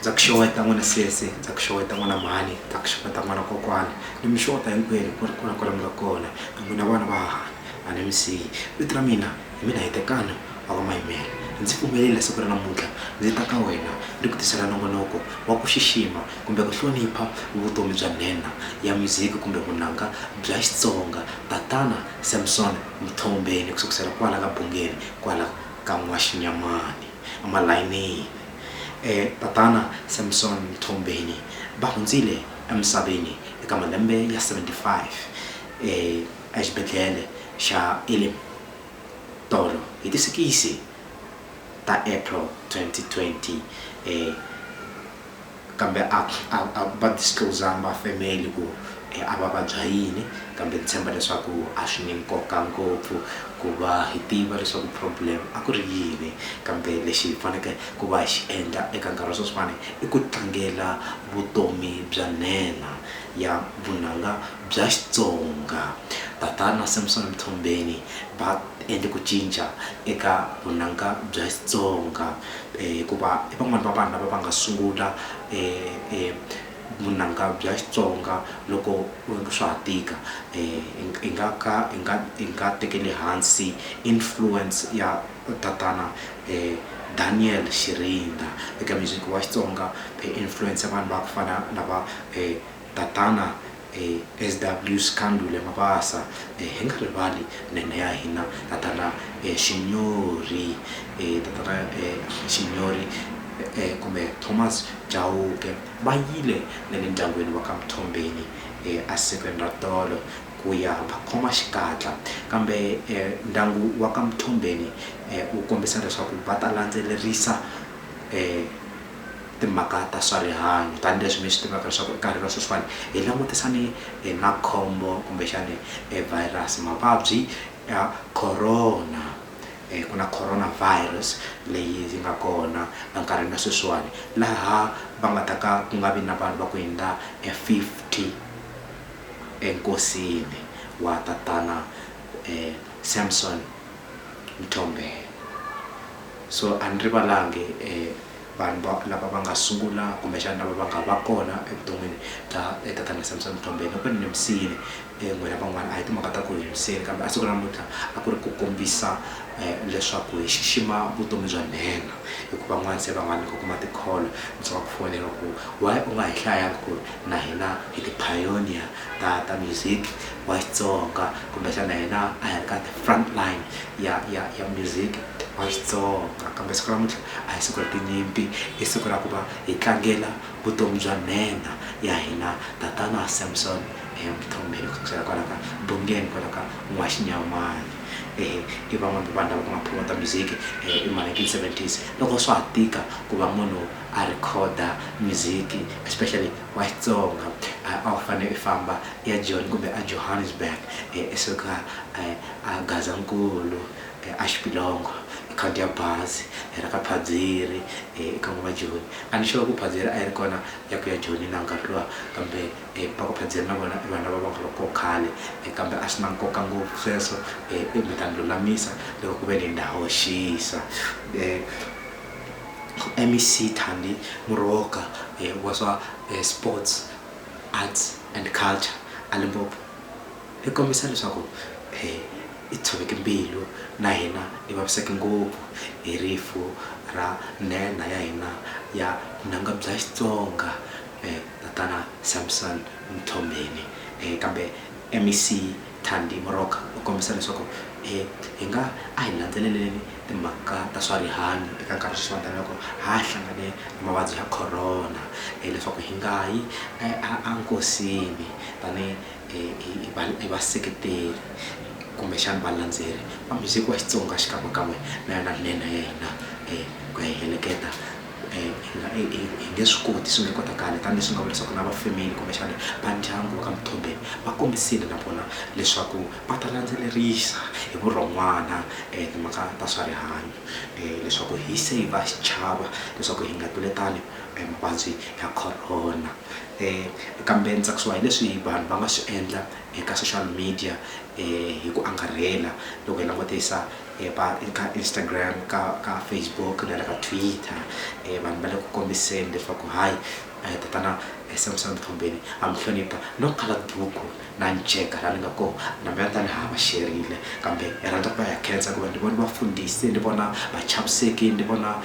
ndza ku xeweta n'wana sesi ndza ku xeweta n'wana mhani ndza ku xeweta n'wana kokwana ni mi xeweta hinkwenu ku ri ku na kwala mi nga kona na n'wina vana va hahani a ni mi siyi vito ra mina hi mina hi tekana a va mayimela ndzi pfumelele siku ra namuntlha ndzi ta ka wena ni ku tisela nongonoko wa ku xixima kumbe ku hlonipha vutomi bya nhenha ya muziki kumbe vunanga bya xitsonga tatana samson Mthombeni, ku sukusela kwala ka Bungeni, kwala ka N'waxinyamani, emalayinini. E, Tatana Samson Mthombeni va hundzile emisaveni eka malembe ya 75 e, exibedlhele xa Elim, tolo hi ti sikisi ta April 2020, e, Kambe a a a va disclose-angi va family ku a va vabya yini, kambe ndzi tshemba leswaku a swi ni nkoka ngopfu ku va hi tiva leswaku problem a ku ri yini. Kambe lexi hi faneke ku va hi xi endla eka nkarhi wa sweswiwani i ku tlangela vutomi bya nhenha ya vunanga bya Xitsonga. Tatana Samson Mthombeni va endle ku cinca eka vunanga bya Xitsonga. hikuva i van'wani va vanhu lava va nga sungula vunanga bya Xitsonga loko swa ha tika hi nga ka hi nga hi nga tekeli hansi influence ya tatana Daniel Xirindza eka music wa Xitsonga influence ya vanhu va ku fana na va . Tatana SW Scandule Mabasa, hi nga rivali nhenhe ya hina Tatana Xinyori, Tatana Xinyori kumbe Thomas Chauke va yile na le ndyangwini wa ka Mthombeni esikweni ra tolo ku ya va khoma xikatla kambe ndyangu wa ka Mthombeni wu kombisa leswaku va ta landzelerisa timhaka ta swa rihanyo tanihileswi mi swi tivaka leswaku nkarhi wa sweswiwani hi langutisane na khombo kumbexani virus mavabyi ya corona ku na corona virus leyi yi nga kona enkarhini wa sweswiwani laha va nga ta ka ku nga vi na vanhu va ku hundza fifty enkosini wa tatana Samsom Mthombeni so a ni rivalangi . vanhu va lava va nga sungula kumbexana lava va nga va kona evuton'wini bya tatana Samsom Mthombeni loko ni nimisile n'wina van'wana a hi timhaka ta ku hi nimisile kambe a siku ra namuntlha a ku ri ku kombisa leswaku hi xixima vutomi bya nhenha hikuva van'wana se va nga ni ku kuma tikholo ndzi nga ku fonela ku why u nga hi hlayanga ku ri na hina hi ti pioneer ta ta music wa Xitsonga kumbexana hina a hi ri ka the front line ya ya ya music wa Xitsonga kambe siku namuntlha a hi siku ra tinyimpi i siku ra ku va hi tlangela vutomi bya nhenha ya hina tatana Samson Mthombeni ku sukusela kwala ka Bungeni kwala ka N'waxinyamani ehe i van'wani va vanhu lava ku nga promoter music hi ma nineteen seventies loko swa ha tika ku va munhu a record music especially wa Xitsonga a wu fane i famba i ya Joni kumbe a Johannesburg i suka a Gazankulu e a Xipilongo hi khandziya bazi hi ri ka Phadziri e eka n'wava Joni a ni sure ku Phadziri a yi ri kona ya ku ya Joni na nkarhi luwa kambe e va ku Phadziri na vona i vanhu lava va nga ri koho khale e kambe a swi na nkoka ngopfu sweswo e i mi ta ni lulamisa loko ku ve ni na hoxisa e MEC Thandi Moroka e wa swa e Sports Arts and Culture a Limpopo. Hi kombisa leswaku hi tshoveke mbilu na hina hi vaviseke ngopfu hi rifu ra nhenha ya hina ya vunanga bya Xitsonga, Tatana Samson Mthombeni. Kambe MEC Thandi Moroka u kombisa leswaku hi nga a hi landzeleleni timhaka ta swa rihanyo eka nkarhi wa sweswiwani tanihi loko ha ha hlangane na mavabyi ya Corona leswaku hi nga yi enkosini tanihi. hi hi hi va hi vaseketeri kumbexana valandzeri va music wa Xitsonga xikan'wekan'we na yona nhenha ya hina ku ya hi heleketa hi nga hi hi hi nge swi koti swi nge kotakali tanihileswi ni nga vula leswaku na va family kumbexana va ndyangu va ka Mthombeni va kombisile na vona leswaku va ta landzelerisa hi vurhon'wana timhaka ta swa rihanyo leswaku hi saver xichava leswaku hi nga tluletani mavabyi ya Corona. Kambe ndzi tsakisiwa hi leswi vanhu va nga swi endla eka social media hi ku angarhela loko hi langutisa eka Instagram, ka ka Facebook na le ka Twitter vanhu va le ku kombiseni leswaku hayi tatana Samsom Mthombeni ha mi hlonipha no kala duku. Na nceka la ni nga kona, na mina ta ni hava xerile, kambe ni rhandza ku va ya khensa hikuva ni vone vafundhisi, ni vona vachaviseki, ni vona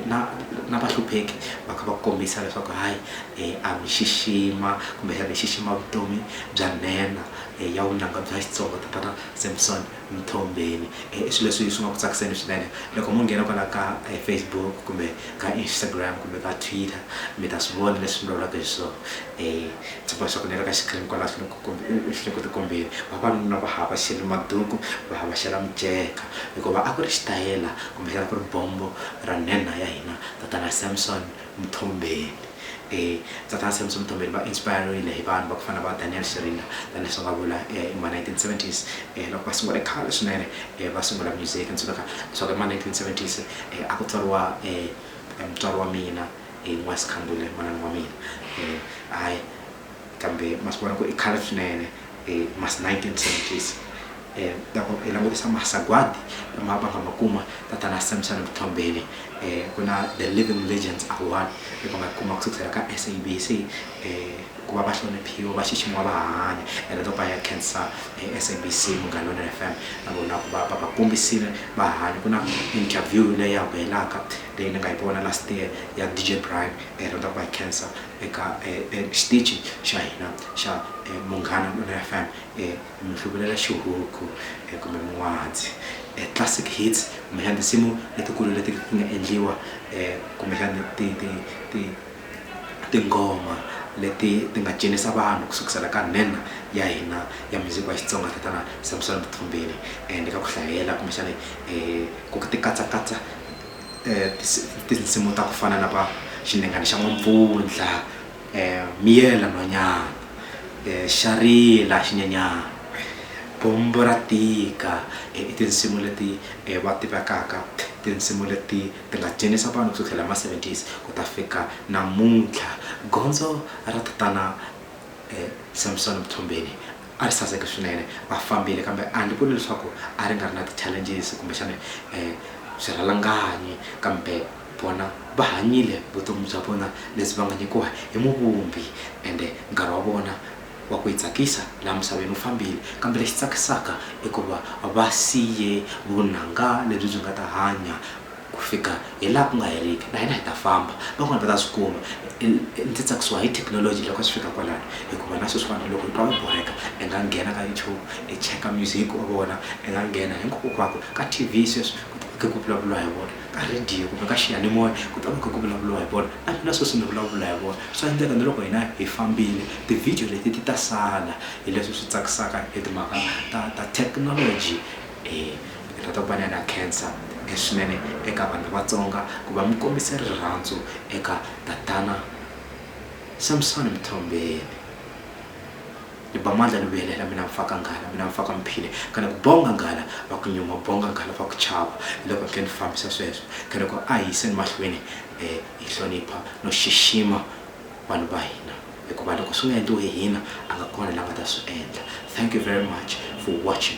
na na vahlupheki va kha va kombisa leswaku hayi a mi xixima kumbexana hi xixima vutomi bya nhenha ya vunanga bya Xitsonga tatana Samson. Mthombeni. I swilo leswi swi nga ku tsakiseni swinene loko mo nghena kwala ka Facebook kumbe ka Instagram kumbe ka Twitter mi ta swi vona leswi ni vulavulaka hi swona. Ndzi boxa ku ni ri ka xikirini kwala swi le ku swi le ku tikombeni. Vavanuna va havhaxele maduku va havhaxela miceka hikuva a ku ri xitayela kumbexana ku ri bombo ra nhenha ya hina tatana Samson. Mthombeni. E, Tatana Samson Mthombeni va inspire-rile hi vanhu va ku fana na va Daniel Shiringa, tani leswi va nga vula e hi ma 1970s, e loko va sungule khale swinene e va sungula music. Ni tsundzuka leswaku hi ma 1970s e a ku tswariwa e e mutswari wa mina e N'wayisikhambule manana wa mina e hayi kambe ma swi vona ku i khale swinene hi ma nineteen seventies loko hi langutisa masagwadi lama va nga ma kuma tatana Samson Mthombeni ku na the living legends award leyi va nga kuma ku sukusela ka SABC ku va va hloniphiwa va xiximiwa va ha hanya ene loko va ya khensa SABC Munghana Lonene F_M na vona ku va va va kombisile va ha hanya ku na interview leyi ya vuyelaka leyi ni nga yi vona last year ya D_J Brian hi rhandza ku va hi khensa eka xitichi xa hina xa Munghana Lonene FM hi mi hluvulela xihuku kumbe n'wahatsi Classic Hits kumbexana tinsimu letikulu leti ti nga endliwa kumbexana ti ti ti tinghoma leti ti nga cinisa vanhu ku sukusela ka nhenha ya hina ya music wa Xitsonga tatana Samsom Mthombeni and ka ku hlayela kumbexana ku ti katsakatsa. tinsimu ta ku fana na va xinhengani xa n'wampfundla miyela nhwanyana xa rila xinyanyani bombo ra tika i tinsimu leti va tivekaka tinsimu leti ti nga dyondzisa vanhu ku sukela hi ma seventies ku ta fika namuntlha gondzo ra tatana Samsom Mthombeni. A ri saseke swinene, a fambile, kambe a ndzi vuli leswaku a ri nga ri na ti-challenges kumbexana swirhalanganyi. Kambe vona va hanyile vutomi bya vona lebyi va nga nyikiwa hi Muvumbi, ende nkarhi wa vona wa ku hi tsakisa laha misaveni wu fambile. Kambe lexi tsakisaka i ku va va siye vunanga lebyi byi nga ta hanya Ku fika hi laha ku nga heriki, na hina hi ta famba. Van'wana va ta swi kuma. Ndzi tsakisiwa hi thekinoloji loko swi fika kwalano, hikuva na sweswiwani loko u twa u borheka, i nga nghena ka YouTube i cheka music u vona, i nga nghena hinkwakokwako ka TV sweswi ku ta va kha ku vulavuriwa hi vona, ka radio kumbe ka xiyanimoya ku ta va kha ku vulavuriwa hi vona. Na mina sweswi ni vulavula hi vona. Swa endleka na loko hina hi fambile, ti-video leti ti ta sala. Hi leswi swi tsakisaka hi timhaka ta ta thekinoloji. Ritokwana na khensa leswinene eka vanhu lavatsonga ku va mi kombise rirhandzu eka tatana Samsoni Mthombeni. Ni ba mandla ni vuyelela mina Mfaka Nghala mina Mfaka Mphile kana ku bonga nghala va ku nyuma bonga nghala va ku chava hi loko ni khe ni fambisa sweswo khe ni ku a hi yiseni mahlweni hi hlonipha no xixima vanhu va hina hikuva loko swi nga endliwi hi hina a nga kona la nga ta swi endla thank you very much for watching.